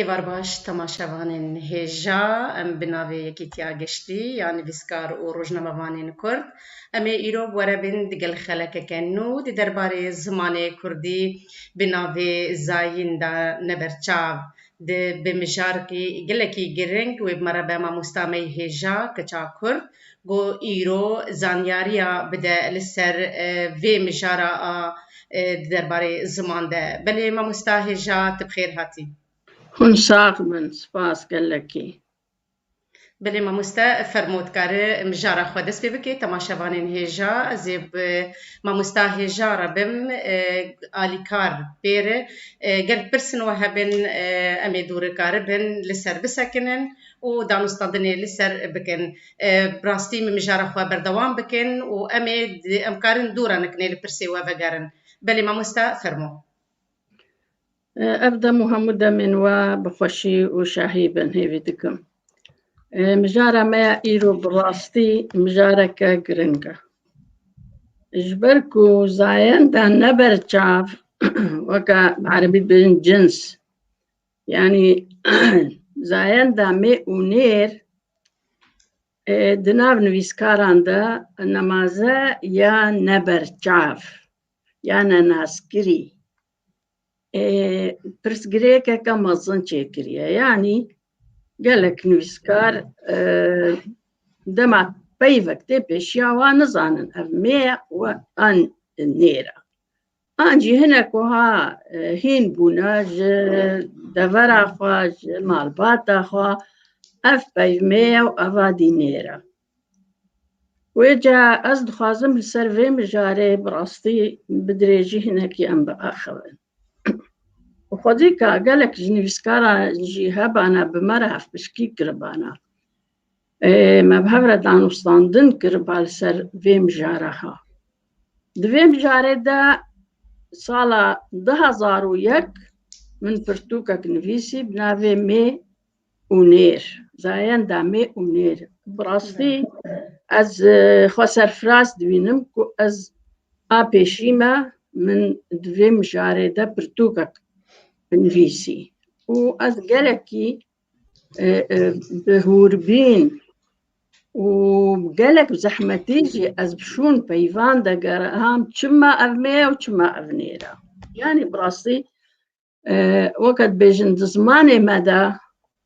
Êvar baş temaşevanên hêja em bi navê Yekîtiya Geştî ya Nivîskar û Rojnamevanên Kurd em ê îro bi we re bên digel xelekeke nû di derbarê zimanê kurdî bi navê Zayîn de ne ber çav. Di bi mijarkî gelekî giring wê bi me re be mamosta me yê hêja keça kurd ku îro zanyariya bide li ser vê mijara a di derbarê ziman de. Belê mamosta hêja tu bi xêr hatî. Hûn sax bin, spas gelekî. Belê mamoste fermo dikare mijara xwe dest pê bike temaşevanên hêja ez ê bi mamosta hêja re bim alîkar pêre gel pirsin we hebin em ê dûrikaribin li ser bisekinin. û danûstandinê li ser bikin. Bi rastî min mijara xwe berdewam bikin û em ê em karin dû re nekinê li pirsê we vegerin. Belê mamosta fermo. Ev dem û hemû demên we bi xweşî û şahî bin hêvî dikim. Mijara me ya îro bi rastî mijareke giring e. Ji ber ku zayenda ne ber çav weke bi erebî dibêjin cins Yanî zayenda mê û nêr di nav nivîskaran de nemaze ya neberçav ya nenaskirî pirsgirêkeke mezin çêkiriye. Yanî gelek nivîskar dema peyvek tê pêşiya wan nizanin ev mê ya û an nêr a. An jî hinek wiha hîn bûne ji devera xwe ji malbata xwe ev peyvmê ye û eva dî nêre. Wê ca ez dixwazim li ser vê mijarê bi rastî bi dirêjî hinekî em biaxivin. Û xwedî ka gelek ji nivîskaran jî hebana bi me re hevpişkî kiribana. Me bi hev re danûstandin kir ba li ser vê mijara ha. Di vê mijarê de sala du hezar û yek min pirtûkek nivîsî bi navê Mê û Nêr, Zayenda Mê û Nêr. Bi rastî ez xwe serfiraz dibînim ku ez a pêşî me min di vê mijarê de pirtûkek nivîsî û ez gelekî bi hûrbîn û gelek zehmetî jî ez bi şûn peyvan de gerham çima ev me ye û çima ev nêra. Yanî bi rastî e, weke dibêjin di zimanê me de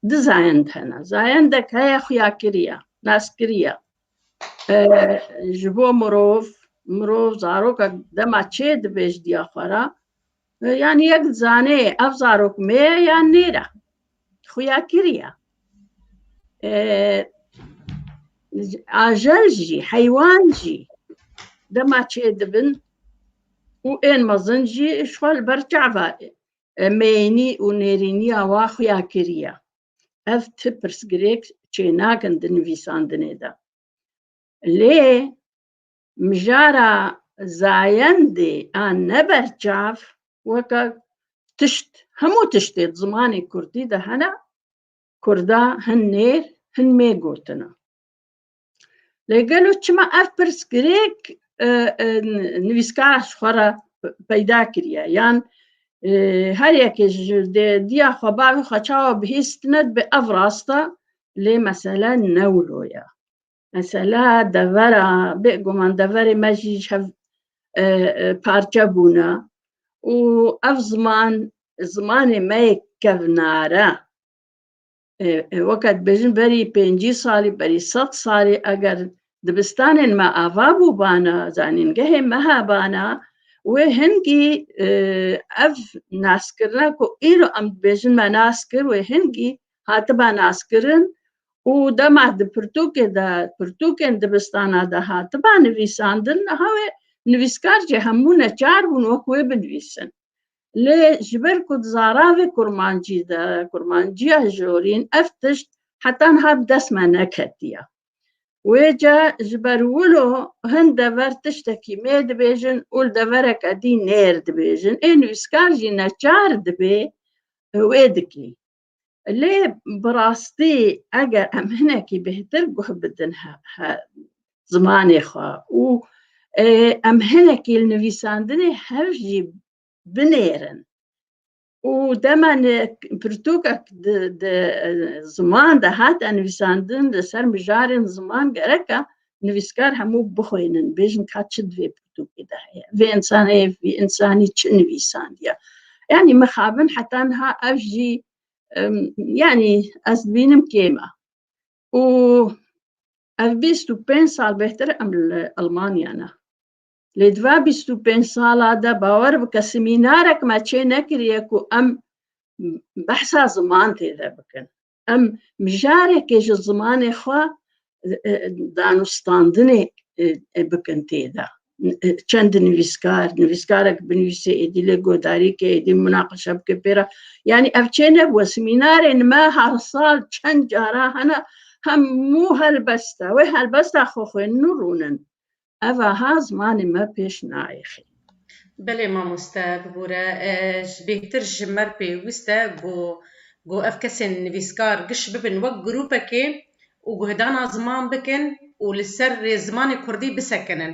di zayend hene. Zayendek heye xuya kiriye, nas kiriye. E, ji bo mirov, mirov zarokek dema çê dibêj diya xwe re, Yani yek zanê ev zarok me ye ya nêra. Xuya kiriya. Ajel jî, heywan jî dema çê dibin û ên mezin jî ji xwe li ber çava meyênî û nêrîniya wa xuya kiriya. Ev ti pirsgirêk çênakin di nivîsandinê de. Lê Mijara zayendê a ne berçav weke tişt hemû tiştê di zimanê kurdî de hene, kurda hin nêr hin mêr gotina. Lê gelo çima ev pirs girêk nivîskara ji xwe re peyda kiriye yan her yekê ji dê diya xwe bavê xwe çawa bihîstine dibe ev rast e lê mesele ne wilo ye. Mesela devera, bêguman deverê me jî ji hev e, e, parçe bûne û ev ziman zimanê me yê kevnare. E, e, Weke dibêjin berî pêncî salî, berî sed salî eger dibistanên me ava bûbana, zanîngehê me hebana, wê hingî e, ev naskirina ku îro em dibêjin me nas kir, wê hingî hatiba naskirin û dema di pirtûkê de pirtûkên dibistana de hatiba nivîsandin niha wê nivîskar jî hemû neçar bûn wek wê binivîsin. Lê ji ber ku di zaravê kurmancî de kurmanciya jorîn ev tişt heta niha bi dest me neketiye. Wê ca ji ber wilo hin dever tiştekî mê dibêjin û li devereke dî nêr dibêjin. Ê nivîskar jî neçar dibê wê dikî. Lê bi rastî eger em hinekî bêhtir guh bidin zimanê xwe û em hinekî li nivîsandinê hev jî binêrin û dema pirtûkek di ziman de hate nivîsandin li ser mijarên ziman gereka nivîskar hemû bixwînin bêjin ka çi divê pirtûkê de heye vê însanê vî însanî çi nivîsandiye yanî mixabin heta niha ev jî yanî ez dibînim kême û ev bîst û pênc sal bêhtir em li Almanya ne lê di va bîst û pênc sala de bawer bike semînarek me çê nekiriye ku em behsa ziman tê de bikin Em mijarekê ji zimanê xwe danûstandinê bikin tê de. Çend nivîskar, nivîskarek binivîsê êdî lê guhdarî ke êdî munaqişe bike pê re. Yanî ev çê nebû, semînarên me her sal çend cara hene hemû helbesta wê helbesta xwe xwênin û rûnin. Ev aha zimanê me pêş naêxê. Belê mamoste bibûre ji bêhtir ji me pêwîst e ku ku ev kesên nivîskar giş bibin wek grûpekê û guhedana ziman bikin û li ser rê zimanê kurdî bisekinin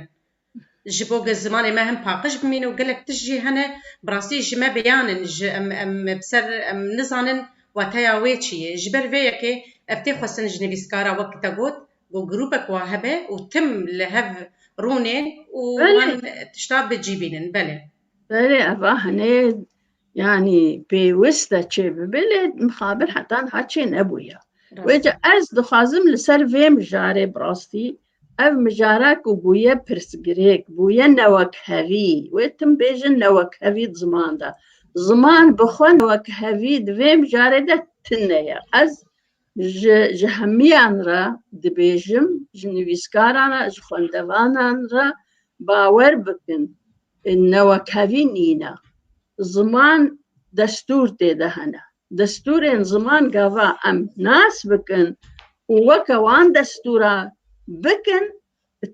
ji bo ku zimanê me hin paqij bimîne û gelek tişt jî hene bi rastî ji me bêyan in ji em em bi ser em nizanin wateya wê çi yê. Ji ber vê yekê ev tê xwestin ji nivîskara wek te got Ku grûpek wan hebe û tim li hev rûnên û wan tişta bi cî bînin. Belê. Belê eva hinê yanî pêwist e çê bibe lê mixabir heta niha çê nebûye. Wê ca ez dixwazim li ser vê mijarê bi rastî ev mijara ku bûye pirsgirêk, bûye newekhevî, wê tim bêjin newekhevî di ziman de. Ziman bi xwe newekhevî di vê mijarê de tune ye. Ez Ji ji hemiyan re dibêjim, ji nivîskaran re, ji xwendevanan re bawer bikin newekevîn nîne. Ziman destûr tê de hene. Destûrên ziman gava em nas bikin û weke wan destûra bikin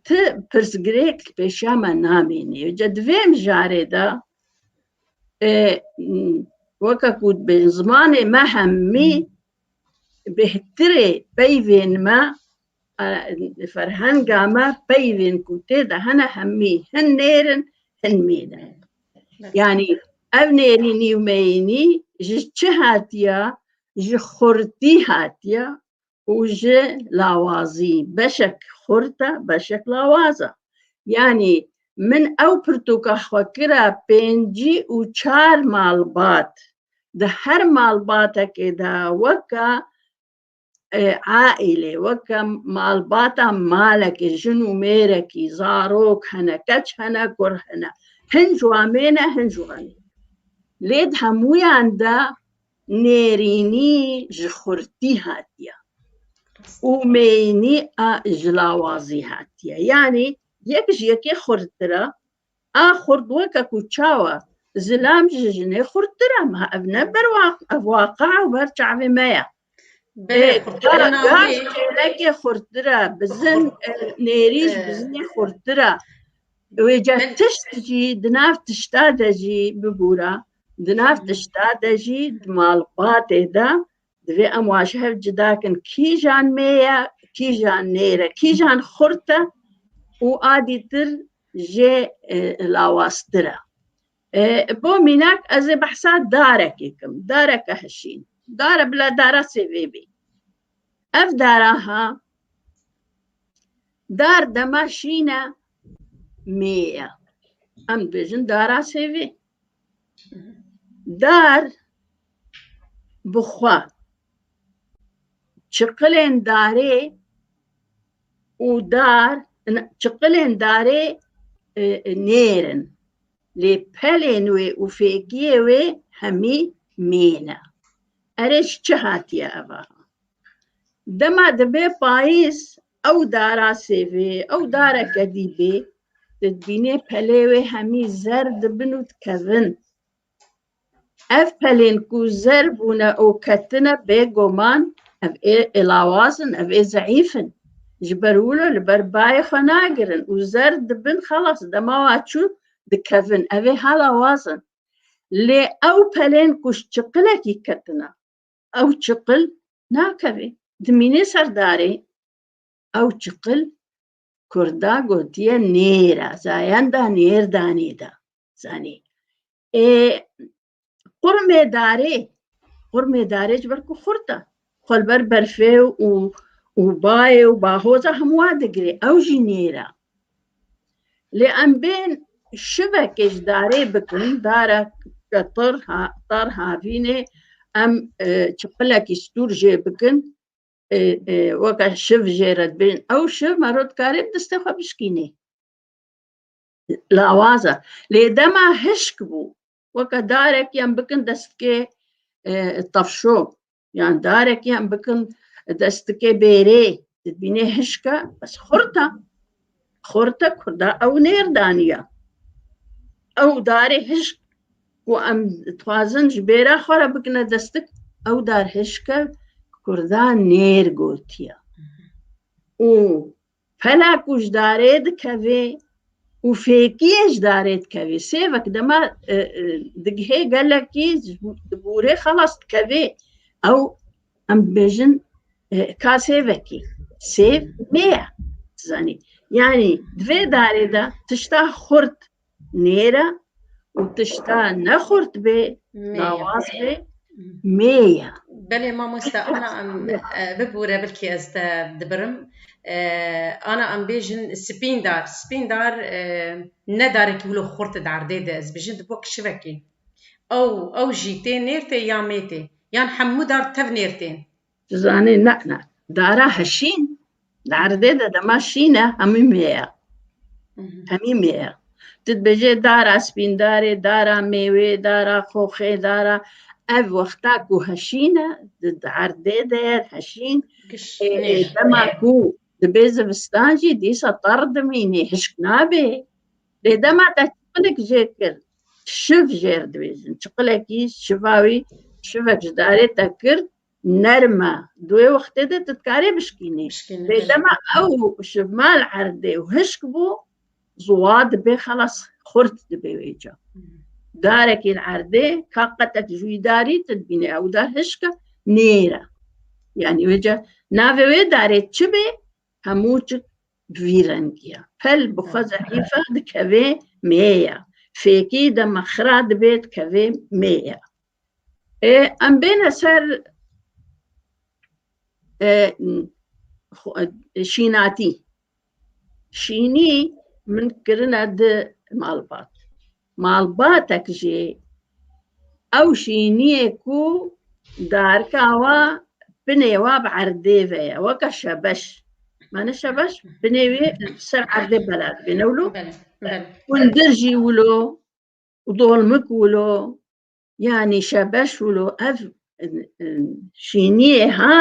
ti pirsgirêk li pêşiya me namînî. Ca di vê mijarê de weke ku dibêjin zimanê me hemî Bêhtirê peyvên me e, ferhenga me peyvên ku tê de hene hemî hin nêr in, hin mîn in. Yanî ev nêrînî û meyînî ji çi hatiye? Ji xurtî hatiye û ji lawazî. Beşek xurt e, beşek lawaz e. Yanî min ew pirtûka xwe kira pêncî û çar malbat. di her malbatekê de weke aîlê weke malbata malekê jin û mêrekî zarok hene keç hene kur hene hin ji wan mêne hin ji wan lê di hemûyan de nêrînî ji xurtî hatiye û mêyînî ji lawazî hatiye yanî yek ji yekê xurttir e A xurt weke ku çawa zilam ji jinê xurttir e ma ev ne ber ev waqia û ber çavê me ye. Gaş kêlekê xurttir e, bizin nêrîş bizinê xurttir e. Wê ceh tişt jî di nav tişta de jî bibûra, di nav tişta de jî di malbatê de Divê em wan ji hev cida kin kîjan mê ye, kîjan nêr e, kîjan xurt e û adîtir jê e, lawaztir e. E, Bo mînak ez ê behsa darekê kim, dareke hişîn. Dare bila dara sêvê bî. Ev dara ha dar dema şîn e mê ye. Em dibêjin dara sêvê. Dar bi xwe çiqilên darê û dar çiqilên darê e, e, nêr in. Lê pelên wê û fêkiyê wê hemî mêl e. Erê ji çi hatiye eva? Dema dibe payîz Ew dara sêvê, ew dareke dîbê, tu dibînê pelê wê hemî zer dibin û dikevin. Ev pelên ku zer bûne û ketine bêguman ev ê êlawaz in, ev ê zeîf in. Ji ber wilo li ber bayê xwe nagirin û zer dibin xelas dema wa çû dikevin. Ev ê hala waz in. Lê ew pelên ku ji çiqilekî ketine, ew çiqil nakeve dimîne ser darê ew çiqil Kurda gotiye nêra zayenda nêr danê da zanî ê qurmê darê qurmê darê ji ber ku xurta xwelber berfê û û bayê û bahoza hemû wa digirê ew jî nêra Lê em bên şivekê ji darê bikin, dara ke tar havînê em çiqilekî stûr jê bikin weke şiv jê re dibin ew şiv mero dikarê bi distê xwe bişkînê. Lawaz e. Lê dema hişk bû weke darekî em bikin destkê tefşo yan darekî em bikin destike bêrê dibînê hişka bes xurta xurta kurda ew nêrdaniya ew darê hişk ku em dixwazin ji bêra xwe re bikine destik ew dar hişke kurda nêr gotiya û Pela ku ji darê dikevê û fêkiyê ji darê dikevê sêvek dema e, e, digihê gelekî di bûrê xelas dikevê ew em dibêjin e, ka sêvekî sêv nêye zanî yanî di vê darê de tişta xurt nêre û tişta ne xurt bê lawaz bê mê ye. Belê mamoste ana em e, bibûre bilkî ez te dibirim. E, Ana em bêjin spîndar. Spîndar e, ne darekî wilo xurt e derdê de ez bijin di bo kişivekî. Ew ew jî tê nêrtê ya mêtê. Yan hemû dar tev nêrtên. Dizanê ne ne. Dara heşîn li erdê de dema şîn e hemî mêye. Hemî mêye. Ti dibêje dara spîndarê, dara mêwê, dara xoxê, dara ev wexta ku heşîn e di erdê de ye heşîn dema ku dibê zivistan jî dîsa tar dimînê hişk nabê. Lê dema te çiqilek jê kir şiv jêr dibêjin. Çiqilekî şiva wî şivek ji darê te kir Nerm e. Di wê wextê de tu dikarî bişkînî. Bişkînî, belê. Bêdema ew ji mal erdê û hişk bû, ziwa dibê xelas xurt dibê wê ca. Darekî li erdê ka qetek ji wî darî tu dibînî ew dar hişk e, nêr e. Yanî wê ca navê wê darê çi bê hemû çik bi vî rengî ye. Pel bi xwe zehîf e dikevê mêya. Fêkî dema xira dibê dikevê mêya. Em bêne ser şînatî. Şînî min kirine di malbat. Malbatek jî ew şîniyê ku darika wa binê wa bi erdê ve ye weke şebeş. Mane şebeş binê wê ser erdê belat bêne wilo. Hundir jî wilo dolmik wilo yanî şebeş wilo ev şîniyê ha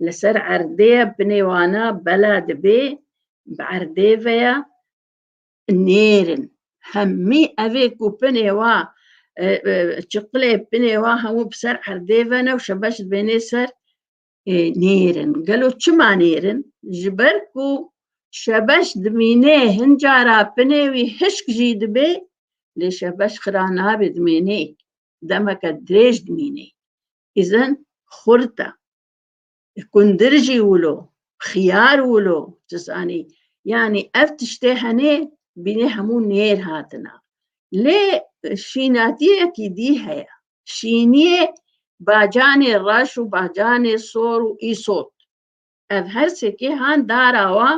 li ser erdê ye binê wana bela dibê bi erdê ve ye nêrin hemî evê ku binê wa çiqilê binê wa hemû bi ser erdê ve ne û şebeş dibênê ser nêrin gelo çima nêrin ji ber ku şebeş dimîne hin cara pinê wî hişk jî dibê lê şebeş xira nabê dimênê demeke dirêj dimînê îzin xurt e kundir jî wilo xiyar wilo tu zanî yanî ev tiştê henê bînê hemû nêr hatina lê şînatiyekî dî heye şîniyê bacanê reş û bacanê sor û îsot. Ev her sekê han dara wa,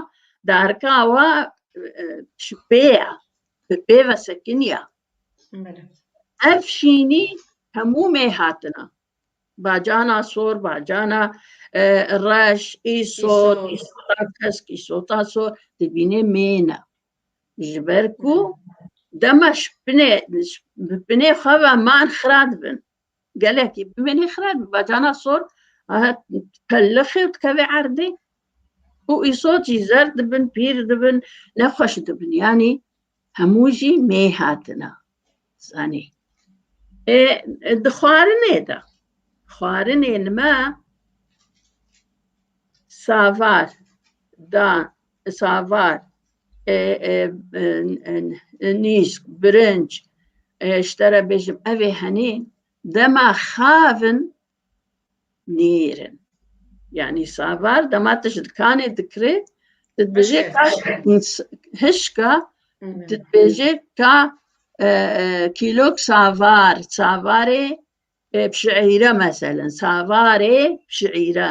darka wa ji pê ya, bi pê ve sekiniya. Ev şînî hemû mê hatina. Bacana sor, bacana reş, îsot, îsota kesk, îsota sor, dibînê mêne. Ji ber ku dema ji pinê bi pinê xwe ve man xira dibin. Gelekî bimînê xira dibe bacana sor pelixê û dikevê erdê û îso jî zer dibin, pîr dibin, nexweş dibin. Yanî hemû jî mêy hatine. zanî ê di xwarinê de xwarinên me savar da savar nîsk birinc ji te re bêjim evê henî dema xavin nêrin. Yanî savar dema tu ji dikanê dikirê tu dibêjê ka hişka tu dibêjê ka e, e, kîlok savar savarê e, pişîre meselen savarê pişîre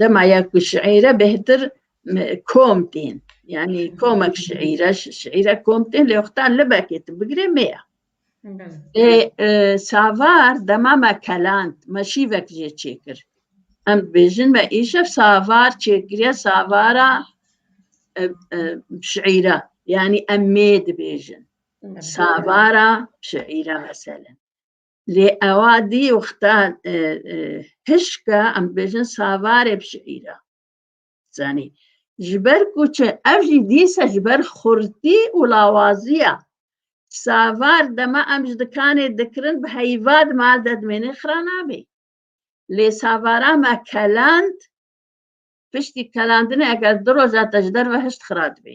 Dema ya ku şiîre bêhtir kom tên. Yani komek şiîre, şiîre kom tên lê wexta libekê tu bigirê mêya. Lê e, savar dema me keland, me şîvek jê çêkir. Em dibêjin me îşev savar çêkiriye savara e, e, şiîre. Yani em mê dibêjin. Savara şiîre mesele. Lê ewa dî wexta hişka em dibêjin savarê bi şiîra. Zanî ji ber ku çi ev jî dîsa ji ber xurtî û lawaziya savar dema em ji dikanê dikirin bi heyva di mal de dimênê xira nabê. Lê savara me keland piştî kelandinê eger du roja te ji derve hişt xira dibê.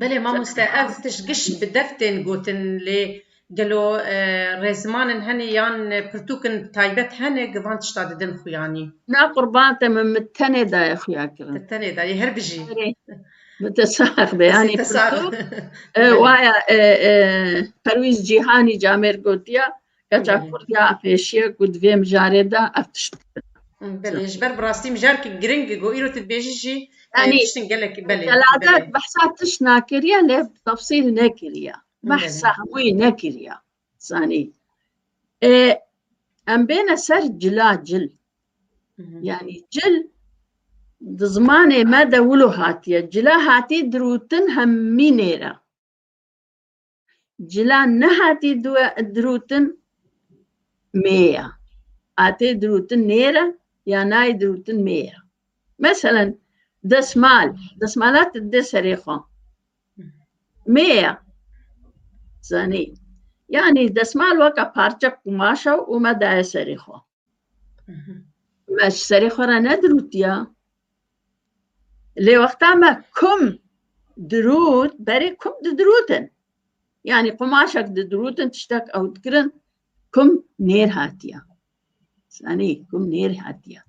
Belê mamoste ev tişt giş bi dev tên gotin lê gelo rêziman in hene yan pirtûk in taybet hene ku van tişta didin xuyanî? Na qurban te min min tenê daye xuya kirin. Te tenê dayê her bijî. Min te sax be yanî pirtûk waya Perwîz Cîhanî camêr gotiya Keça Kurdiya pêşiye ku di vê mijarê de ev tişt bikin. Belê ji ber bi rastî mijarkî giring e ku îro tu dibêjî jî yani tiştin gelek belê. Zelade behsa tişt nakiriye lê tefsîl nekiriye. Behsa hemûyî nekiriye. Zanî. Ê em bêne ser cila cil. Yani cil di zimanê me de wilo hatiye. Cila hatî dirûtin hemmî nêre. Cila nehatî dirûtin mê ye. Atê dirûtin nêre ya nayê dirûtin mê ye. Meselen desmal, desmala tu didê serê xwe. Mê ye. Zanî. Yanî desmal weka parçe qumaşa û me daye serê xwe. me ji serê xwe re nedirûtiya lê wexta me kum dirût berê kum didirûtin yanî qumaşek didirûtin tiştek ew dikirin kum nêr hatiya sanî kum nêr hatiya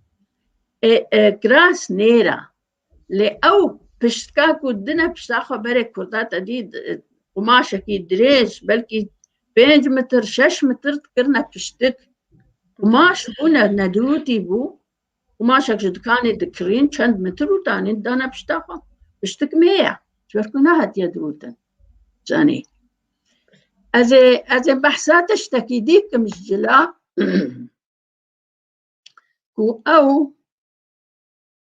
e, e, kiras nêra Lê ew piştka ku dine pişta xwe berê Kurda te dî qumaşekî dirêj belkî pênc mitir şeş mitir dikirine piştik. Qumaş bûne nedûtî bû qumaşek ji dikanê dikirîn çend mitir û danîn dane pişta xwe. Piştik mê ye çwer ku nehatiye dirûtin zanî. Ez ê ez ê behsa tiştekî dî kim ji cila ku ew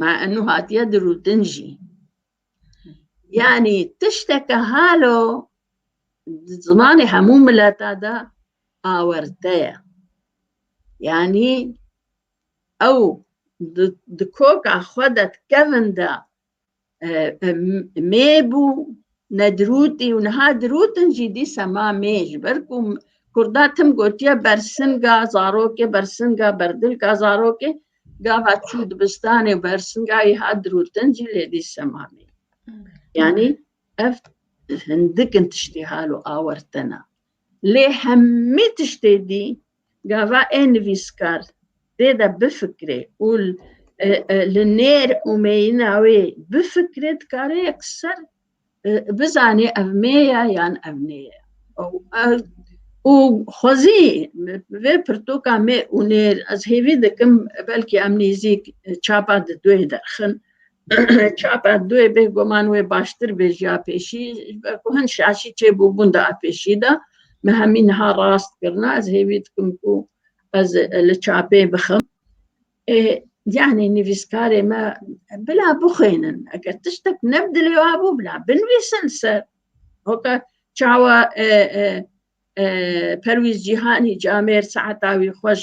ma enû hatiye dirûtin jî yanî tişteke halo di zimanê hemû mileta de awerte ye yanî ew di koka xwe de dikevin de mê bû nedrûtî û niha dirûtin jî dî sema mê ji ber ku Kurda tim gotiye bersinga zarokê bersinga berdilka zarokê gava çû dibistanê bersinga wî hat dirûtin jî lê dî sema mê yanî ev hindikin tiştî hal û awertina Lê hemî tiştê dî gava ê nivîskar tê de bifikirê û li nêr û meyîna wê bifikirê dikare yekser bizanê ev mê ye yan ev nê ye. Û xwezî vê pirtoka mê û nêr ez hêvî dikim belkî em nêzîk çapa di duê derxin Çapa duê bêguman wê baştir bêjiya pêşî ve ku hin şaşî çêbûbûn de a pêşî de me hemî niha rast kirina ez hêvî dikim ku ez li çapê bixim ê yanî nivîskarê me bila bixwênin eger tiştek ne bi dilê wa bû bila binivîsin ser hoka çawa perwîz cîhanî camêr saeta wî xweş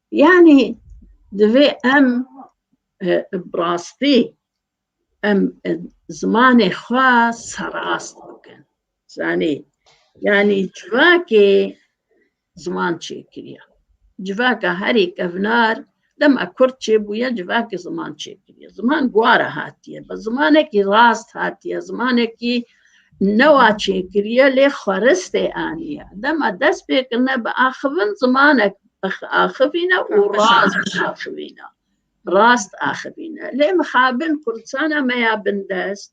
Yanî divê em bi rastî em zimanê xwe serast bikin. Zanî yanî civakê ziman çêkiriye. Civaka herî kevnar dema kurd çêbûye civakê ziman çêkiriye. Ziman guara hatiye. Bi zimanekî rast hatiye, zimanekî newa çêkiriye lê xweristê aniye. Dema dest pê kirine bi axivin zimanek axivîne û rast axivîne. Rast axivîne. Lê mixabin Kurdistana me ya bindest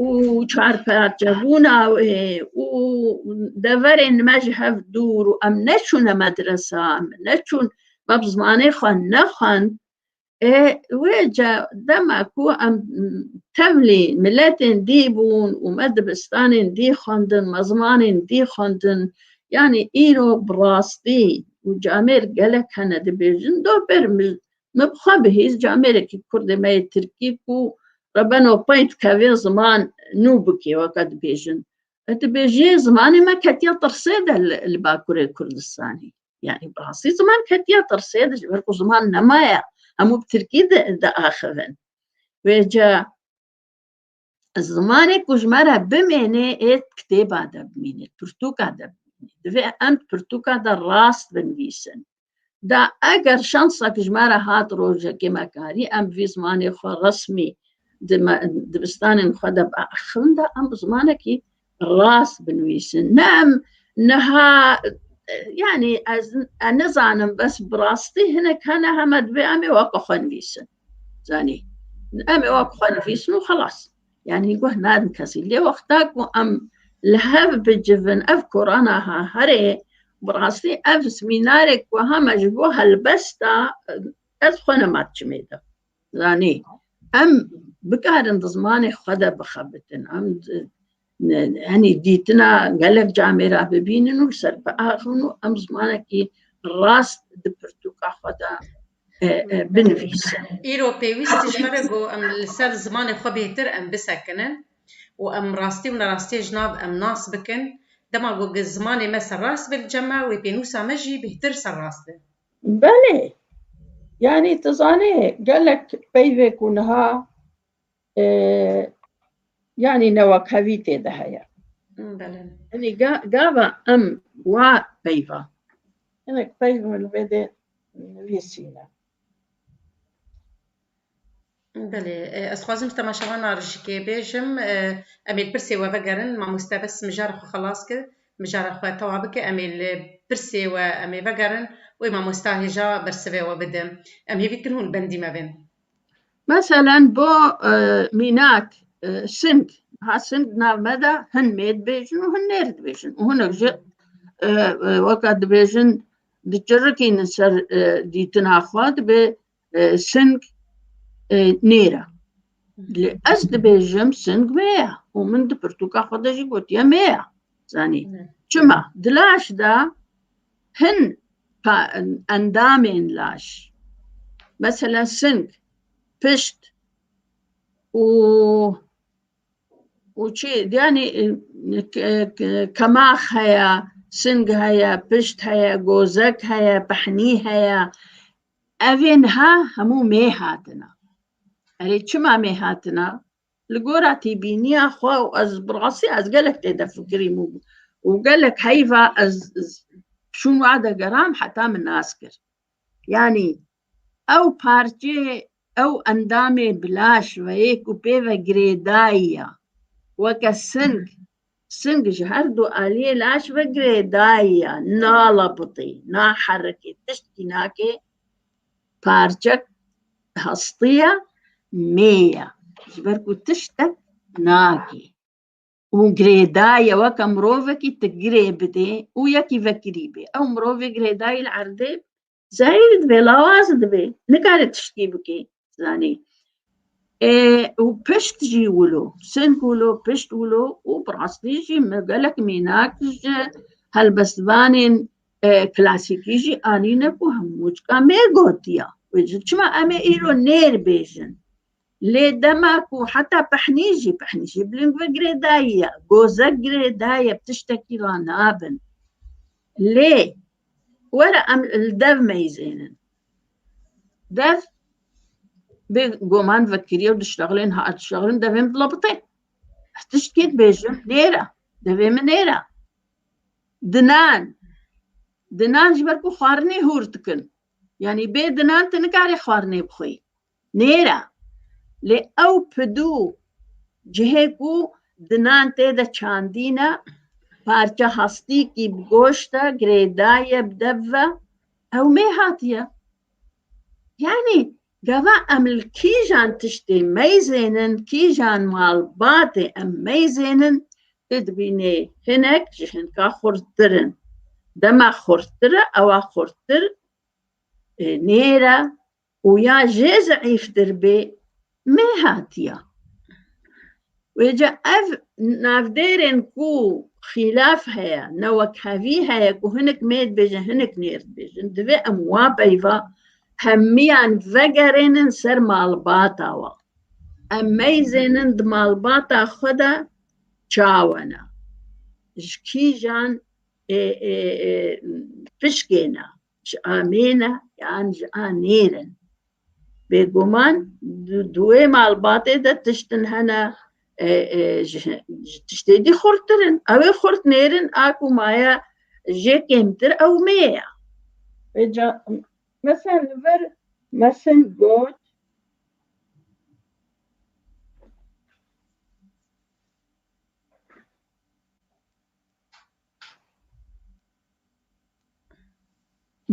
û çarparçebûna wê û deverên me ji hev dûr û em neçûne medresan, neçûn me bi zimanê xwe nexwend, Wê ca dema ku em tevlî miletên dî bûn û me dibistanên dî xwendin, me zimanên dî xwendin, yanî îro bi rastî û camêr gelek hene dibêjin do ber min bi xwe bihîst camêrekî kurdê me yê tirkî ku re beno pey dikeve ziman nû bikê weke dibêjin. Dibêjiyê zimanê me ketiya tirsê de li Bakurê Kurdistanê. Yani bi rastî ziman ketiya tirsê de ji ber ku ziman nemaye hemû bi tirkî diaxivin. Wê ca zimanê ku ji me re bimênê ê kitêba de bimîne, pirtûka de bimîne. Divê em pirtûka de rast binivîsin. Da eger şansa ku ji me re hat rojekê me karî em vî zimanê xwe resmî dibistanên xwe de biaxivin da em bi zimanekî rast binivîsin ne em niha yanî ez nizanim bes bi rastî hinek hene heme divê em ê waka xwe nivîsin zanî em ê waka xwe nivîsin û xelas yanî guh nadin kesî lê wexta ku em li hev bicivin ev korana ha herê bi rastî ev semînarek ku heme ji bo helbesta ez xwe nema çimê de Zanî em bikarin di zimanê xwe de bixebitin em henî dîtina gelek camê ra bibînin û ser biaxin û em zimanekî rast di pirtûka xwe de binivîsin. Îro pêwîst ji me re ku em li ser zimanê xwe bêhtir em bisekinin û em rastî û nerastiyê ji nav em nas bikin. Dema ku zimanê me serrast be li cem me wê pênûsa me jî bêhtir serrast be. Belê, yanî tu zanê gelek peyvê ku niha e, yanî newekhevî tê de heye. Yanî gava em wa peyva. Hinek peyv min vê dê nivîsîne. Belê, ez xwazim ji temaşewana rijikê bêjim, em ê li pirsê we vegerin, mamoste bes mijara xwe xelas kir, mijara xwe tewa bike, em ê li pirsê we em ê vegerin, wê mamosta hêja bersivê we bide. Em hêvî dikin hûn li bendî me bên. Meselen bo mînak Sind, ha Sind di nav me de hin mêr dibêjin û hin nêr dibêjin û hinek jî weka dibêjin dicirikînin ser dîtina xwe dibê Sing nêra. Lê ez dibêjim sing me ye û min di pirtûka xwe de jî gotiye me ye. Zanî çima di laş de hin endamên laş mesela sing, pişt û û çi yani kemax heye, sing heye, pişt heye, gozek heye, pehnî heye. Ev ê niha hemû mê hatina. Erê çima mê hatina? Li gora tîbîniya xwe û ez bi rastî ez gelek tê de fikirîm û û gelek heyva ez çûm wa de geram heta min nas kir. Yanî ew parçeyê ew endamê bi laş ve yê ku pê ve girêdayî ya. Weke sing, Sing ji her du aliyê laş vegire dayiya nalapitî, naherikê, tiştkî nake, parçek hastiya mêya ji ber ku tiştek nake û girêdaye weke mirovekî tu girê bidê û yekî vekirî bê ew mirovê girêdayî li erdê Zehîr divê lawaz divê nikare tiştî bikê zanî. E, û pişt jî wilo sing wilo pişt wilo û bi rastî jî min gelek mînak ji helbestvanên e, klasîkî jî anîne ku hemû çika me gotiya. Wê ji çima em ê îro nêr bêjin. Lê dema ku heta pehnî jî pehnî jî biling ve girê dayiye, gozek girê daye tiştekî ra nabin. Lê Were em li dev meyzênin. Dev bê goman vekiriye û dişlexilên ha dişlexilin devê min bila bitê. Ez tiştê dibêjim nêra, devê min nêra. Dinan, dinan ji ber ku xwarinê hûr dikin. Yanî bê dinan tu nikarî xwarinê bixwî. Nêra, lê ew pidû cihê ku dinan tê de çandîne, parça hastîkî bi goşt e, girêda ye bi dev ve, ew mê hatiye. Yanî gava em li kîjan tiştê meyzênin, kîjan malbatê em meyzênin, tu dibînê hinek ji hinka xurttir in. Dema xurttir e ewa xurttir nêra û ya jê zeîftir bê meh hatiya. Wê ca ev navdêrên ku xîlaf heye, ne wek hevî heye ku hinek meh dibêjin hinek neh dibêjin, divê em wa peyva hemiyan vegerênin ser malbata wan. Em meyzênin di malbata xwe de çawa ne, ji kîjan pişkê ne. ji a mêne yan ji a nêr in. Bêguman di duê malbatê de tiştin hene e, e, ji ji tiştê dî xurttir in. Ew ê xurt nêrin a ku maye jê kêmtir ew mê ye. Vê ca mesela li vir mesin got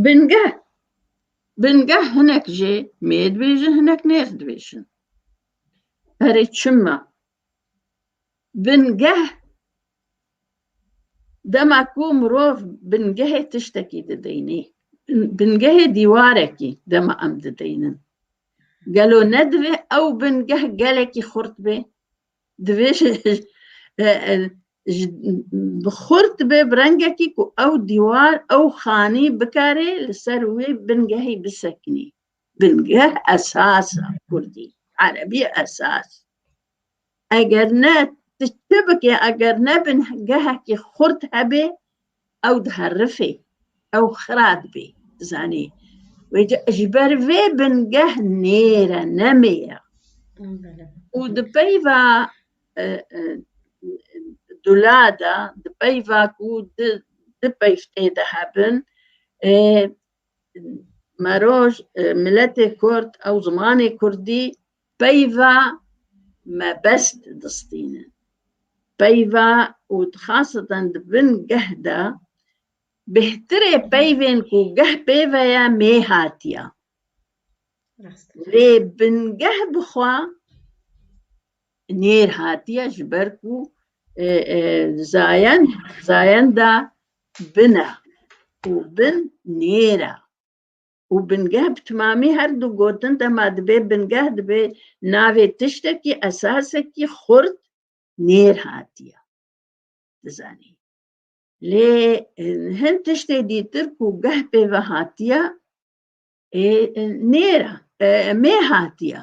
Bingeh Bingeh hinek jê mêr dibêjin hinek nêr dibêjin. Herê çima bingeh dema ku mirov bingehê tiştekî dideyînî bingehê dîwarekî dema em dideyînin gelo ne divê ew bingeh gelekî xurt bê Divê ji ji bi xurt be bi rengekî ku ew dîwar ew xanî bikarê li ser wê bingehî bisekinî. Bingeh esas e kurdî, erebî esas. Eger ne tu çi bikê eger ne bingehekî xurt hebê ew diherifê ew xira dibê zanê wê ji ber vê bingeh nêre nemêya û di peyva dula de di peyva ku di peyftê de hebin meroj miletê kurd ew zimanê kurdî Peyva mebest distînin. Peyva û dixasiten di bin geh de bêhtirê peyvên ku geh pê ve ye mê hatiya. Lê bingeh bi xwe nêr hatiye ji ber ku zayen zayenda bin e û bin nêr e. û bingeh bi timamî her du gotin dema dibê bingeh dibê navê tiştekî esasekî xurt nêr hatiye dizanî lê hin tiştê dîtir ku geh pê ve hatiye ê nêr mê hatiye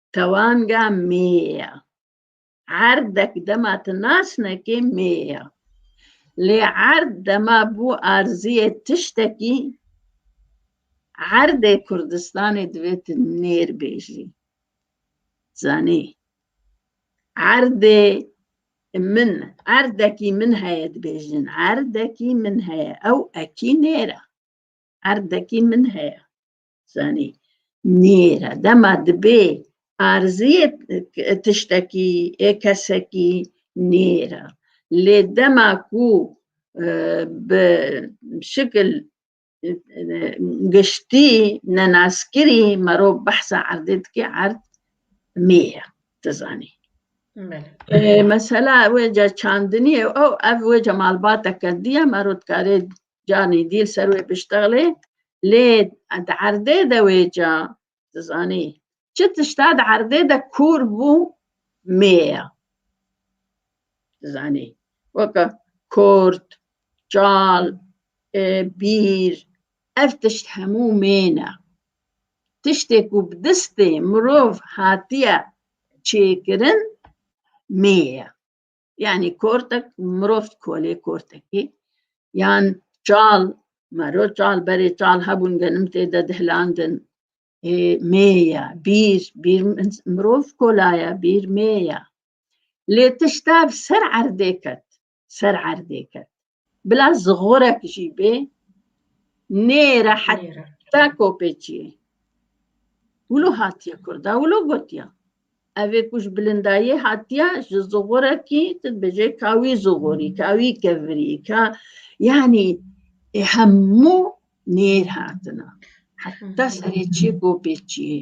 Tewanga mê ya. Erdek dema tu nasnekê mê ya. Lê erd dema bû arziyê tiştekî, erdê Kurdistanê divê tu nêr bêjî. Zanî. Erdê min, erdekî min heye dibêjin. Erdekî min heye. Ew ekî nêr e. Erdekî min heye. zanî nêra dema dibê arziyê tiştekî ê kesekî nêra lê dema ku e, bi şikil e, giştî nenaskirî merov behsa erdê dikê erd mêya tu zanî mesela wê ca çandinî ew ev wê ca malbateke diye mero dikarê canî dî li ser wê biştexlê lê di erdê de wê ca dizanî çi tişta di erdê de kûr bû mêya dizanî weke kort çal bîr ev tişt hemû mêne tiştê ku bi distê mirov hatiye çêkirin mêye yani kortek mirov kolê kortekî yan çal mero çal berê çal hebûn genim tê de dihlandin mêya bîr bîr mirov kolaya bîr mêya lê tiştev ser erdê ket ser erdê ket Bila zixorek jî bê nê re heta kopê çi ye. Wilo hatiye Kurda wilo gotiya. Evê ku ji bilindayê hatiya ji zixorekî tu dibêje ka wî zixorî, ka wî kevirî, ka yanî e, hemû nêr hatina. Heta serê çi kopê çi ye.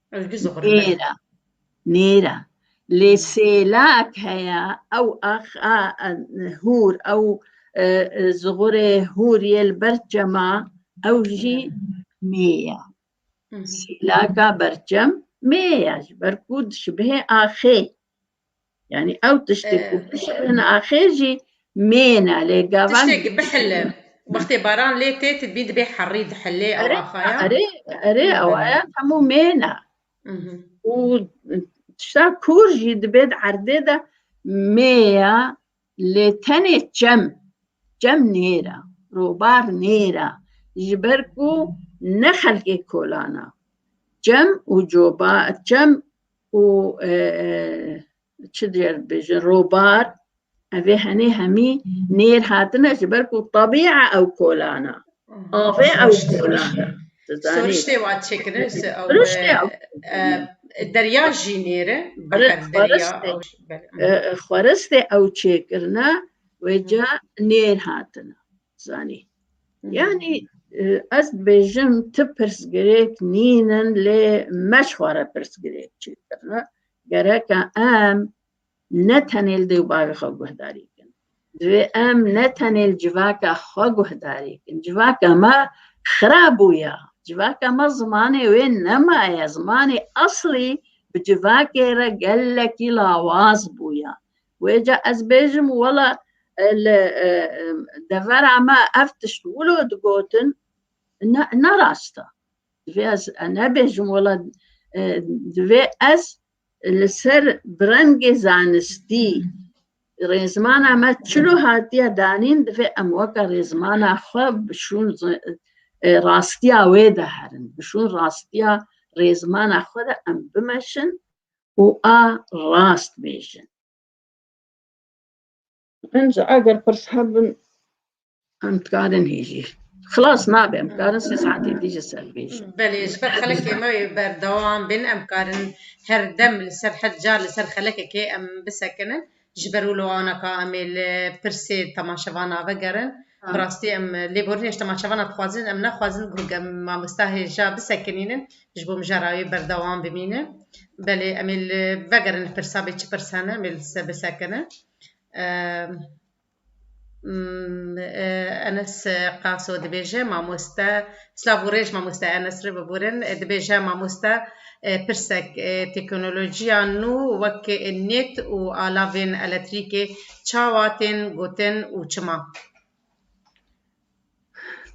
Ez bi zor. Nêra. Nêra. Lê sêlak heye ew axa hûr ew e, e, zigurê hûr yê li ber çema ew jî mêye. Sêlaka berçem mêye ji ber ku dişibihê axê. Yani ew tiştê ku bişerin axê jî mêne lê gavan tiştêkî bihile wextê baran lê tê tu bî dibê herî dihilê ew axaya erê erê ew aya hemû mêne û tişta kûr jî dibêt erdê de mêya Lê tenê çem, çem nêra, robar nêra ji ber ku ne xelkê kolan a. Çem û coba, çem û çi diyer dibêjin robar evê henê hemî nêr hatine ji ber ku tebîa ew kolan a. Avê ew goran e. Soriştê wa çêkire ji ew derya jî nêre xweristê ew çêkirine wê ca nêr hatine zanî yanî ez dibêjim ti pirsgirêk nînin lê me ji xwe re pirsgirêk çêkirine gereke em ne tenê li dêw bavê xwe guhdarî bikin. Divê em ne tenê li civaka xwe guhdarî bikin. Civaka me xirab bûye. Civaka me zimanê wê nemaye. Zimanê eslî bi civakê re gelekî lawaz bûye. Wê ca ez bêjim wela li devera me ev tişt wilo digotin ne ne rast e. Divê ez nebêjim wela divê ez Li ser brengê zanistî rêzmana me çilo hatiye danîn divê em weke rêzmana xwe bişûn rastiya wê de herin bişûn rastiya rêzmana xwe de em bimeşin û a rast bêjin. Em ji eger pirs hebin em dikarin hêjî. Xilas nabe em dikarin sê saetê dî ji ser bêjin. Belê ji ber xelekê me yê berdewam bin em karin her dem li ser her car li ser xelekekê em bisekinin ji ber û li wana ka em ê li pirsê temaşevana vegerin. Bi rastî em lêborînê ji temaşevana dixwazin em naxwazin ku em mamosta hêja bisekinînin ji bo mijara wê berdewam bimînin. Belê em ê li vegerin li pirsa bê çi pirs hene em ê li se bisekinin. Enes Qaso dibêje mamoste silav û rêj mamoste Enes rê biborîn dibêje mamoste pirsek teknolojiya nû wek nêt û alavên eletrîkê çawa tên gotin û çima?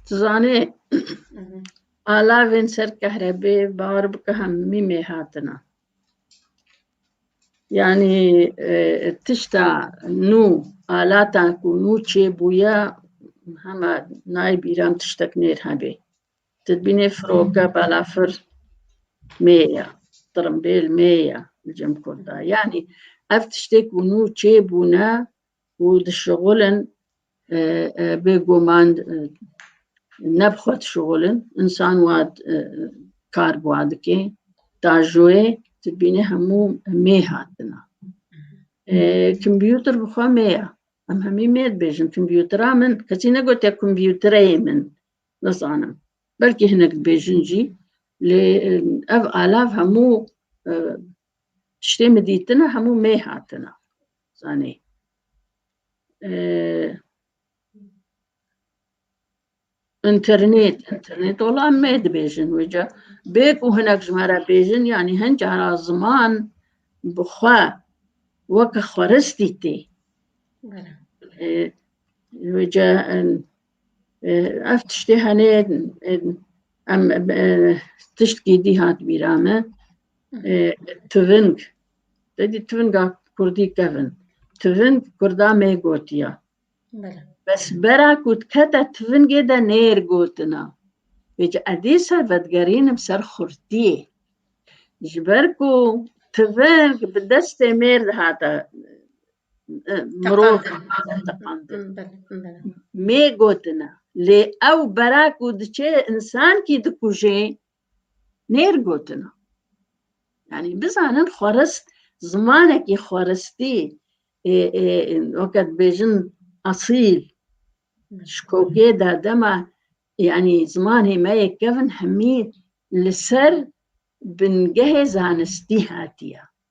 Tu zanî alavên ser kehrebê bar bike hemî mêr hatine. Yanî tişta nû alata ku nû çêbûye hema nayê bîra em tiştek nêr hebê. Ti dibînê firoke balafir mê ye, tirimbêl mê ye li cem Kurd de. Yanî ev tiştê ku nû çêbûne û dişixulin bêguman ne bi xwe dişixulin însan wa kar bi wa dike tajoyê tu bînî hemû mê hatina kompîûter bi xwe mê ya em hemî mê dibêjin kompîûtera min kesî negotiye kompîûtereyê min nizanim belkî hinek dibêjin jî lê ev alav hemû Ştê mi dîtina hemû mê hatina. Zanê. internet internet ola me dibêjin wêca bê ku hinek ji me re bêjin yanî hin cara ziman bi xwe weke xweristî tê wêca Ev tiştê henê em tişt gêdî hat bîra me tiving dedî tivinga Kurdî kevin tiving Kurda mê gotiya bes bera ku dikete tivingê de nêr gotina Pêc edî ser vedgerînim ser xurtiyê ji ber ku tiving bi destê mêr dihata mirov mê gotina lê ew bera ku diçê insankî dikujê nêr gotina yanî bizanin xwerist zimanekî xweristî weke dibêjin asîl ji kokê de dema yanî zimanê me yê kevin hemî li ser bingehê zanistî hatiye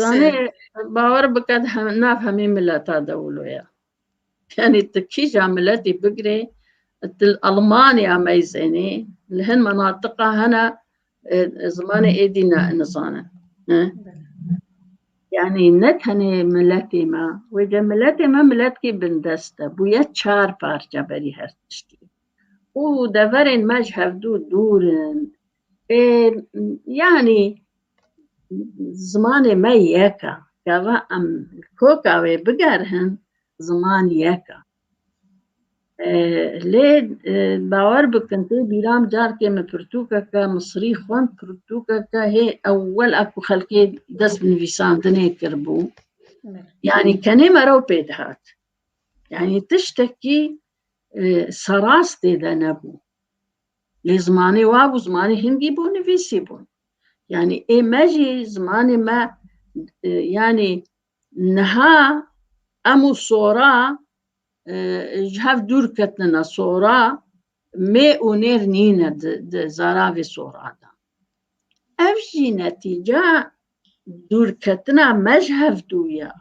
Zanê bawer bike nav hemê mileta de wilo ya. Yani tu kîja miletî bigirê tu li Almanya meyzenê li hin menatiqa hene zimanê êdî ne nizanin. Yani ne tenê miletê me wê de miletê me miletkî bindest e bûye çar parça berî her tiştî. û deverên me ji hevdû dûr in. yanî zimanê me yek e gava em koka wê bigerihin ziman yek e lê bawer bikin tê bîram carkê min pirtûkeke misrî xwend pirtûkeke hê ewel a ku xelkê dest bi nivîsandinê kiribû yanî kenê me rew pê dihat yanî tiştekî serast tê de nebû Lê zimanê wa bû zimanê hindî bû nivîsî bûn. Yanî ê me jî zimanê me e, yanî niha em û sora e, ji hev dûr ketine sora mê û nêr nîne di zaravê sora de. Ev jî netîca dûrketina me ji hev dû ye.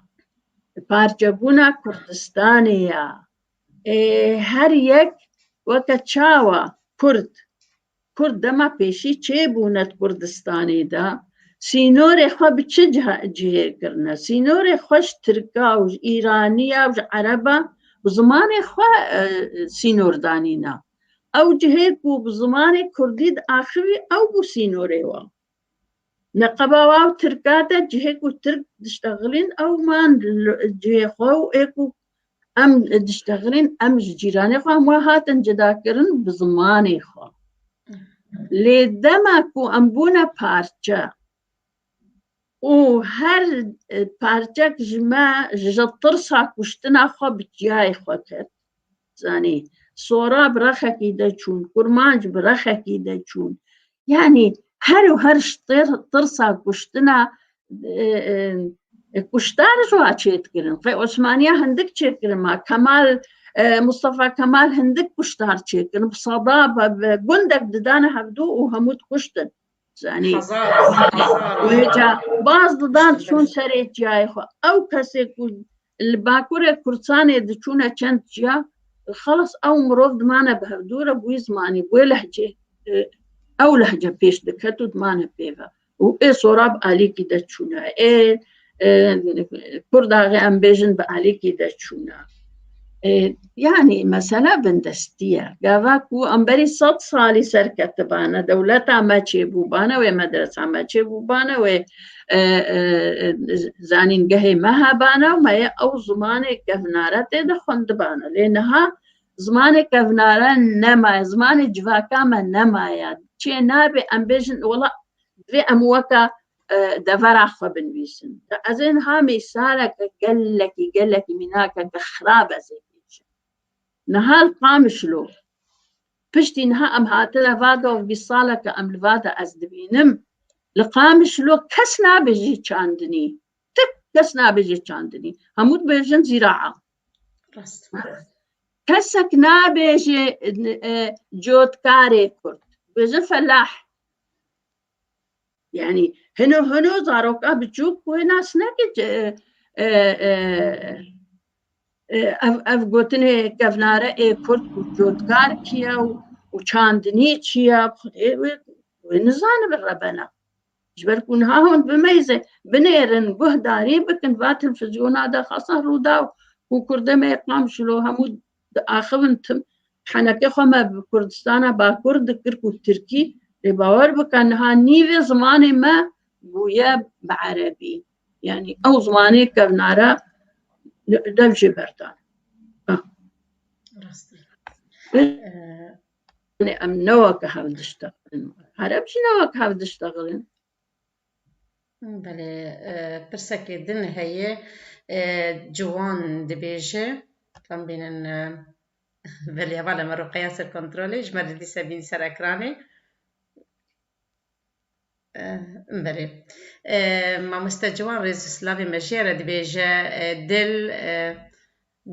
Parçebûna Kurdistanê ye. Her yek weke çawa Kurd Kurd dema pêşî çê bûne di Kurdistanê de sînorê xwe bi çi cihê kirine? Sînorê xwe ji Tirka û ji Îraniya û ji Ereba bi zimanê xwe e, sînor danîna. Ew cihê ku bi zimanê Kurdî diaxivî ew bû sînorê wan. Neqeba wa û Tirka de cihê ku Tirk diştexilîn ew man cihê xwe û ê ku em diştexilîn em ji cîranê xwe em wa hatin cudakirin bi zimanê xwe. Lê dema ku em bûne parçe û her parçek ji me ji tirsa kuştina xwe bi çiyayê xwe ket. zanî sora bi rexekî de çûn kurmanc bi rexekî de çûn yanî her û her ji tirsa kuştina kuştar ji wa çêdikirin xê osmaniya hindik çêkirin ma kemal Mustafa Kemal hindik kuştar çêkirin bi sada bi gundek didane hevdû û hemû dikuştin zanî baz didan çûn serê çiyayê xwe ew kesê ku Li bakurê Kurdistanê diçûne çend ciya xelas ew mirov dimane bi hevdûre bûyî zimanî wê lehcê ew lehce pêş diket û dimane pêve û ê sorab alîkî de çûne ê Kurdaxê em bêjin bi alîkî de çûne Yani mesela bindestiye. Gava ku em berî sed salî serketibane, dewleta me çêbûbane wê medresa me çêbûbane wê e, e, e, zanîngehê me hebane û me yê ew zimanê kevnare tê de xwendibane. Lê niha zimanê kevnare nemaye, zimanê civaka me nemaye. Çê nabê em bêjin wela divê em weka devera xwe binivîsin ez ên ha mêsareke gelekî gelekî mînake ke xirab ez ê bêjim nihal qamişlo piştî niha em hatine va do vî saleke em li va de ez dibînim li qamişlo kes nabêjî çandinî tik kes nabêjî çandinî hemû dibêjin zîraa kesek nabêjê cotkarê kurd bêjin felah Yanî hino hino zaroka biçûk ku hê nas neke ev ev gotinê kevnare ê kurd û cotkar çiye û çandinî çiye xudê wê wê nizanibe rebena ji ber ku niha hûn bimeyze binêrin guhdarî bikin va telfizyona de xasa rûdaw û kurdê me qam şilo hemû diaxivin tim henekê xwe me bi Kurdistana Bakur dikir ku Tirkî lê bawer bike niha nîvê zimanê me bûye bi Erebî yanî ew zimanê kevnara dev jê berdan em newek hevdişte Ereb jî newek hevdişte xirin Belê, pirsekê din heye, ciwan dibêje, tam bînin, belê hevalên me Ruqeya ser kontrolê, ji me re dîsa bîn ser ekranê, belê, mamoste ciwan rêz û silavên me jê re dibêje, dil,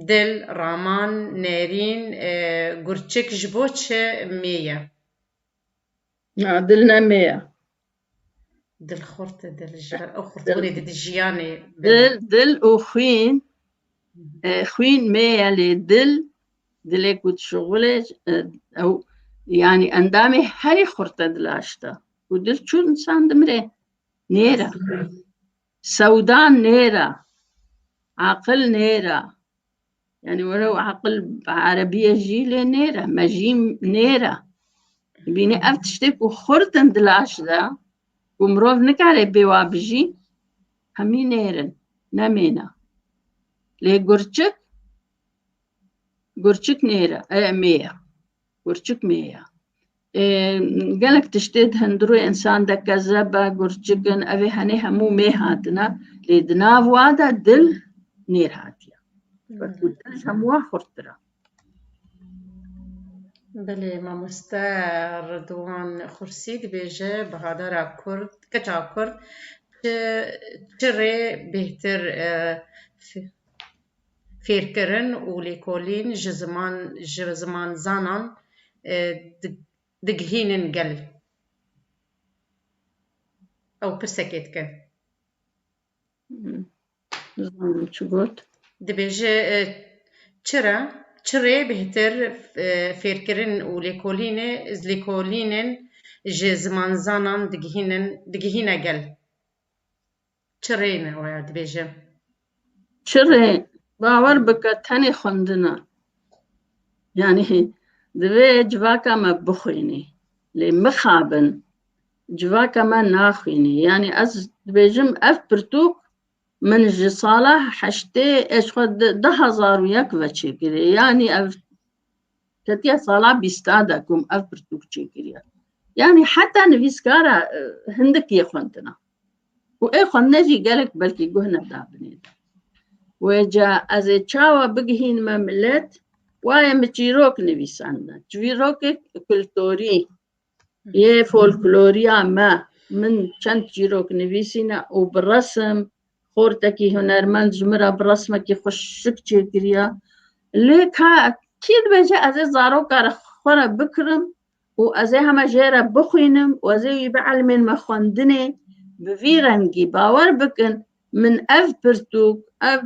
dil, raman, nêrîn, gurçik ji bo çi mêye. Na dil ne me ye. Dil xurt e dil ji ber ew xurtbûnê didî jiyanê Dil, dil û xwîn e, xwîn me ye lê dil dilê ku dişuxulê e, ew yanî endamê herî xurt e dila ji te. Û dil çû insan dimire nêra. Sewda nêra, aqil nêra. Yanî were û aqil bi erebîye jî lê nêra, me jî nêra. Bînî ev tiştê ku xurt in di laş de ku mirov nikare bê wa bijî, hemî nêrin, nemêna. Lê gurçik, gurçik nêra, mêya. Gurçik mê ya. Gelek tiştê di hundirû însan de kezeb e, gurçik in, ev ê henê hemû mê hatine lê di nav wa de dil nêr hatiye. Wekû dil ji hemû wan xurttir e. Belê mamoste Ridwan Xursî dibêje bihadara Kurd, keça Kurd çi çi rê bêhtir fêrkirin û lêkolîn ji ziman ji zimanzanan digihînin gel? Ew pirsekê dike. Nizanim çi got. Dibêje çi re çi rê bêhtir fêrkirin û lêkolînê lêkolînên ji zimanzanan digihînin digihîne gel? Çirê ne waya dibêje. Çirê bawer bike tenê xwendina. Yani divê civaka me bixwînî. Lê mixabin civaka me naxwînî. Yani ez dibêjim ev pirtûk min ji sala heştê ez xwe di hezar û yek ve çêkirî. Yani ev ketiye sala bîsta de ku ev pirtûk çêkiriye. Yani heta nivîskara hindik yê xwendina. û ê xwendinê jî gelek belkî guh nedabinê. Wê ca ez ê çawa bigihînime milet, wayê min çîrok nivîsandin. Çîrokek kulturî yê folkloriya me. Min çend çîrok nivîsîne û bi resim xortekî hunermend ji min re bi resmekî xweşik çêkiriya. Lê ka kî dibêje ez ê zaroka re xwe re bikirim û ez ê heme jê re bixwînim û ez ê wî bielmên me xwendinê bi vî rengî bawer bikin min ev pirtûk ev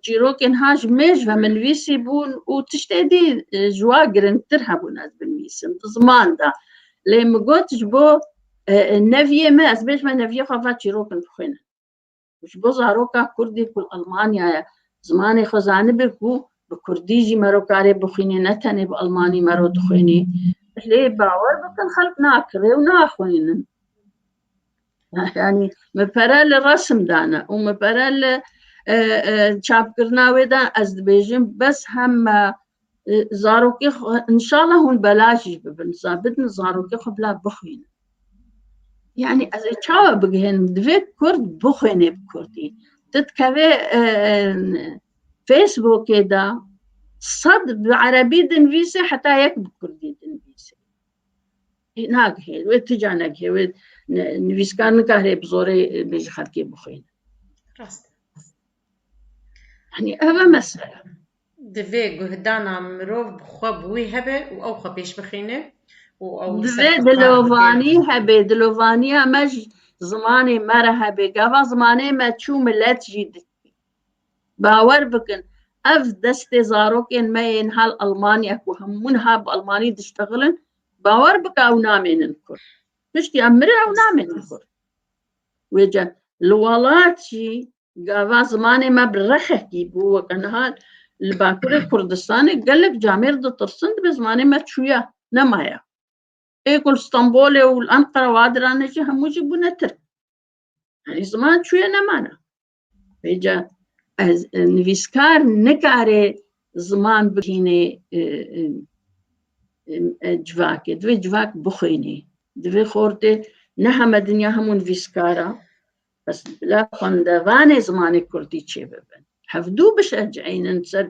çîrokên ha ji mêjve min nivîsî bûn û tiştê dî ji wa giringtir hebûn ez binivîsim di ziman de lê min got ji bo neviyê me ez bêjme neviyê xwe va çîrokin bixwînin. Ji bo zaroka Kurdî ku li Elmanya ye zimanê xwe zanibe ku bi Kurdî jî mero karê bixwînê ne tenê bi Elmanî mero dixwînî. Lê bawer bikin xelk nakirê û naxwînin. Yani me pere li resim dane û me pere li çapkirina wê de ez dibêjim bes hem Zarokê xwe inşallah hûn bela jî bibin bidin zarokê xwe bila bixwînin. Yani ez ê çawa bigihênim divê Kurd bixwênê bi Kurdî. Ti dikevê e, Facebookê de sed bi Erebî dinvîsê heta yek bi Kurdî dinvîsê. Nagihê wê ti ca negihê wê nivîskar nikare bi zorê bêjî xelkê bixwînin. Rast. Hani ev e mesele. Divê guhdana mirov bi xwe bi wî hebe û ew xwe pêş bixîne û ew Divê dilovanî hebê, dilovaniya me ji zimanê me re hebê. Gava zimanê me çû milet jî bawer bikin ev destê zarokên me yên hal Almanya ku hemû niha bi Almanî diştexilin bawer bike ew namênin kur. Piştî em mirê ew namênin kur. Wê cem li welat jî Gava zimanê me bi rexekî bû weke niha li Bakurê Kurdistanê gelek camêr ditirsin dibe zimanê me çûya nemaya. Ê ku li Stenbolê û li Enqera wa dirane jî hemû jî bûne Tirk. Yanî ziman çûye nemana. Bêca ez nivîskar nikare ziman bihînê civakê. Divê civak bixwînê. Divê xortê ne heme dinya hemû nivîskara Bes bila xwendevanê zimanê kurdî çêbibin. Hevdû bişehceynin ser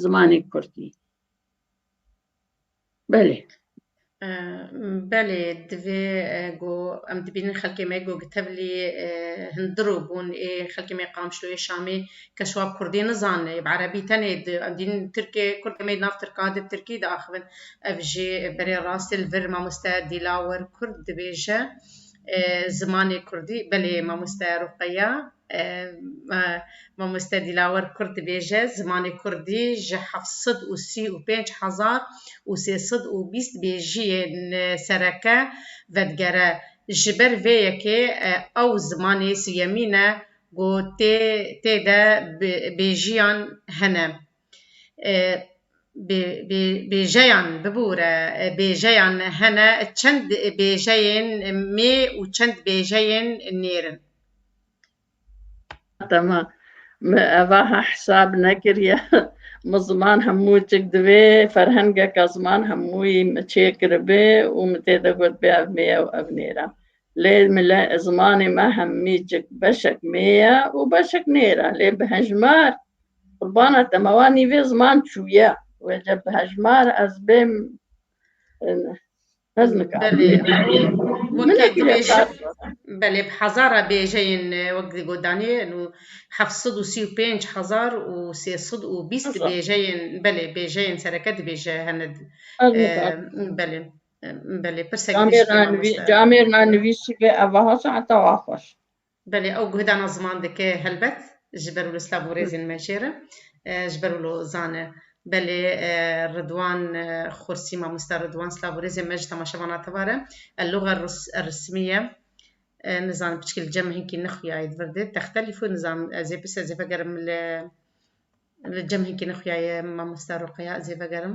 zimanê kurdî. Belê. Belê divê go em dibînin xelkê me go gi tevlî hindir û bûn ê xelkê me Qamşlo ê Şamê kes wa Kurdî nizane ê bi Erebî tenê di em dînin Tirkê Kurdê me nav Tirka di Tirkî de axivin ev jî berê rastê li vir mamoste Dîlawir Kurd dibêje Zimanê Kurdî, belê mamoste Ruqeya, mamoste Dîlawer Kurd dibêje, zimanê Kurdî ji heft sed û sî û pênc hezar û sê sed û bîst bêjiyên sereke vedigere. Ji ber vê yekê ew zimanê siyemîn e ku tê de bêjiyan hene. Bêjeyan bibûre bêjeyan hene çend bêjeyên mê û çend bêjeyên nêr in. Tema min evaha hisab nekiriye min ziman hemû cik divê ferhengeka ziman hemûyî min çêkiribe û min tê de gotibê ev mê ye û ev nêr e. Lê zimanê me hemî cik beşek mê ye û beşek nêr e lê bi hejmar Qurbana te me wa nîvê ziman çûye wece bi hejmar ez bêm ez nika. Belê weke dibêje belê bi hezara bêjeyên wek di godanê nû heft sed û sî û pênc hezar û sê sed û bîst bêjeyên belê bêjeyên sereke dibêje hene belê belê pirsek camêrna nivîsî be evaha saeta wa xweş. Belê ew guhdana ziman dike helbet ji ber wilo silav û rêzên me jêr e, ji ber wilo zan e. Belê Ridwan Xursî, Mamosta Ridwan silav û rêzên me ji temaşevana tevar e. El loga rismî ye. Nizanim piçikê li cem e hinkî nixuyaye di vir dê. Texte lîfo nizanim ez ê pirs ez ê vegerim li li cem hinkî nixuyaye mamosta Ruqeya ez ê vegerim.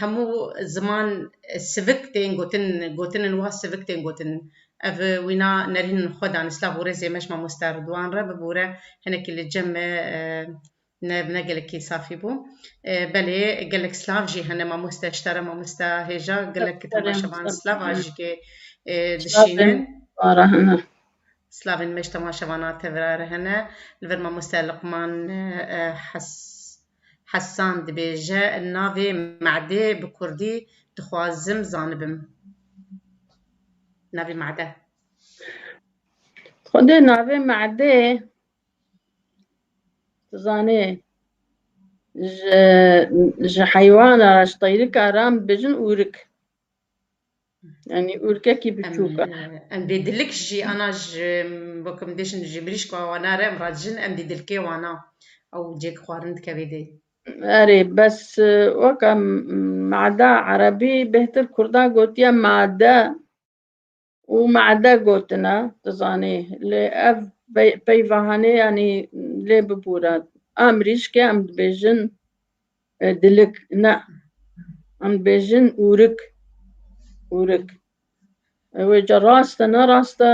Hemû ziman sivik tên gotin, gotinên wa sivik tên gotin. Ev wîna nerînên xwe dan. Silav û rêzê me ji mamoste Ridwan re bibûre. Hinekî li cem e, ne ne gelekî safî bû. Belê gelek silav jî hene mamoste ji te re mamoste hêja gelek temaşevan silav a jikê dişînin. Silavên me ji temaşevana te re hene. Li vir mamoste Liqman Hes. Hesan dibêje navê Madê bi kurdî dixwazim zanibim. Navê Made. Xwedê navê Madê tu zanê ji ji heywana ji teyrika re an dibêjin ûrik. Yanî ûrkekî biçûk e. Em dê dilik jî ana ji bo ku em dê jin ji mirîşka wana re em re dijin em dê dilkê wana ew cêk xwarin dike vê dê. Erê bes weka mada erebî bêhtir kurdan gotiye made û made gotine tu zanî lê ev peyvahanê yanî lê bibûre a mirîşkê em dibêjin Dilik ne. Em dibêjin ûrik. Ûrik. Wê ca rast e ne rast e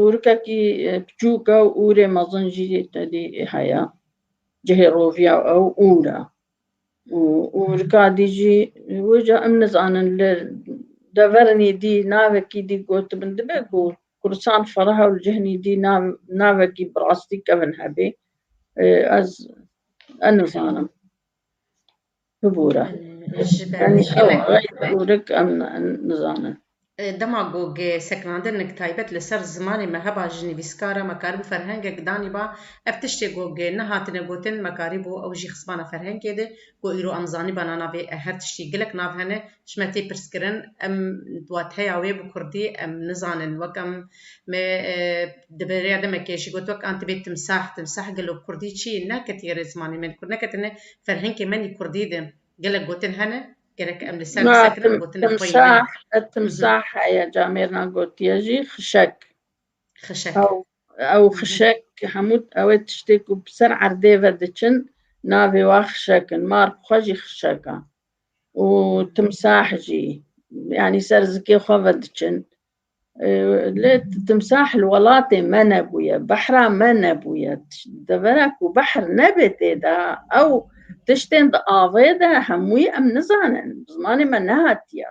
ûrikekî piçûk e û ûrê mezin jî tedî heye. Cihê roviya ew ûr e. Û ûrika dî jî wê ca em nizanin li deverên dî navekî dî gotibin dibe ku Kursan Ferah û Cihnî dî navekî bi rastî kevin hebê ez ez nizanim. Bibûre. Ji ber vê kêmek. Ûrik em nizanin. Dema gog ê sekinandinnek taybet li ser zimanê me heba ji nivîskara me karibû ferhengek danîba, ev tiştê gog ê nehatine gotin me karîbû ew jî xizmana ferhengê de Ku îro em zanîbana navê her tiştî gelek nav hene, ji me tê pirskirin em wateya wê bi kurdî em nizanin. Wek em me di bêreya demekê jî got wek an tibê timsah, timsah gelo bi kurdî çi ye? Neketiye erê zimanê me li kurd neketine ferhenkê me nî kurdî di gelek gotin hene gerek em li ser bi ser kirin gotina xwe yî ne. Timsah, timsah heye camêrna gotiye jî xişek. Xişek. Ew xişek hemû ew ê tiştê ku bi ser erdê ve diçin navê wan xişek in. Mark xwe jî xişek a û timsah jî. Yanî ser zikê xwe ve diçin. Lê timsah li welatê me nebûye, behra me nebûye. Devera ku behr nebê tê de ew tiştên di avê de hemûyî em nizanin. Bi zimanê me nehatiye.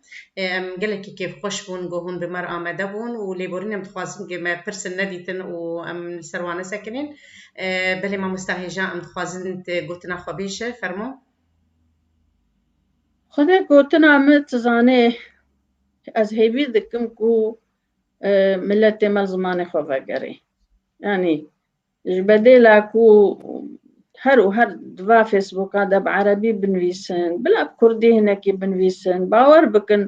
Em gelekî kêfxweş bûn ku hûn bi mer amade bûn û lêborîn em dixwazin ku me pirsin nedîtin û em li ser wan nesekinîn. Belê mamosta hêja em dixwazin gotina xwe bêje, fermo. Xwe ne gotina min tu zanê ez hêvî dikim ku miletê me zimanê xwe vegerê. Yanî Ji bedêla ku her û her di va Facebooka de bi Erebî binivîsin, bila bi Kurdî hinekî binivîsin, bawer bikin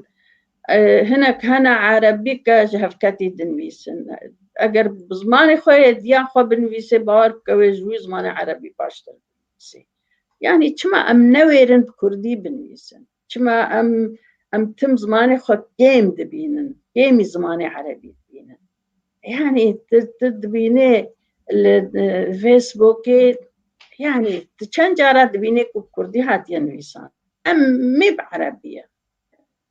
hinek hene Erebî ke ji hevketî dinivîsin. Eger bi zimanê xwe yê di ya xwe binivîsê bawer bike wê ji wî zimanê Erebî baştir binivîsê. Yanî çima em newêrin bi Kurdî binivîsin? Çima em em tim zimanê xwe kêm dibînin, kêmî zimanê erebî dibînin. Yani tu dibînê li Facebookê yani tu çend cara dibînê ku Kurdî hatiye nivîsan. Em mêb erebî ye.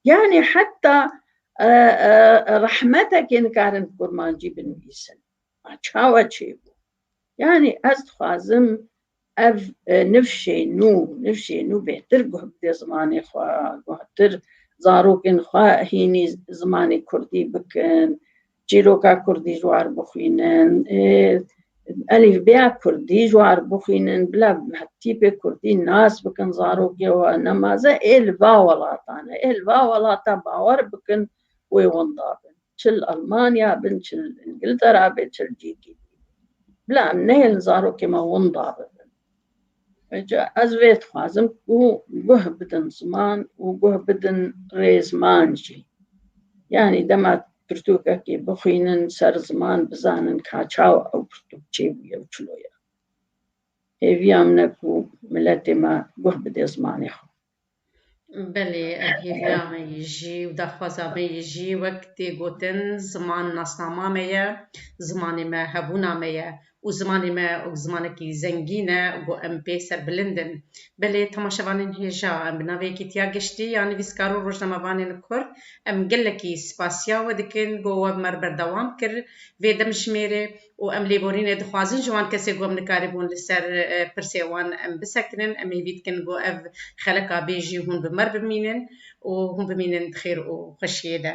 Yani heta rehmetekê nikarin kurmancî binivîsin. Çawa çêbû. Yani ez dixwazim Ev nifşê nû, nifşê nû bêhtir guh bidê zimanê xwe, guhtir zarokên xwe hînî zimanê kurdî bikin, çîroka kurdî ji war bixwînin, elîfbeya kurdî ji war bixwînin, bila tîpê kurdî nas bikin zarokê we, nemaze ê li va welatan e, ê li va welata bawer bikin wê wenda bin. Çi li Elmanya bin, çi li Îngiltera be, çi li cihekî din. Bila em neyên zarokên me wenda bibin. Îca ez vê dixwazim ku guh bidin ziman û guh bidin rêzman jî. Yanî dema pirtûkekê bixwînin ser ziman bizanin ka çawa ew pirtûk çê bûye û çilo ye. Hêviya min e ku miletê me guh bidê zimanê xwe. Belê ev hêviya me yî jî û daxwaza me yî jî wek tê gotin ziman nasnama me ye, zimanê me hebûna me ye û zimanê me zimanekî zengîn e ku em pê serbilind in. Belê temaşevanên hêja em bi navê Kîtiya Giştî ya nivîskar û rojnamevanên Kurd em gelekî spasiya we dikin ku we bi me re berdewam kir vê demjimêrê. û em lêborînê dixwazin ji wan kesê ku em nikaribûn li ser pirsê wan em bisekinin, em hêvî dikin ku ev xelika bê jî hûn bi me bimînin û hûn bimînin di xêr û xweşiyê de.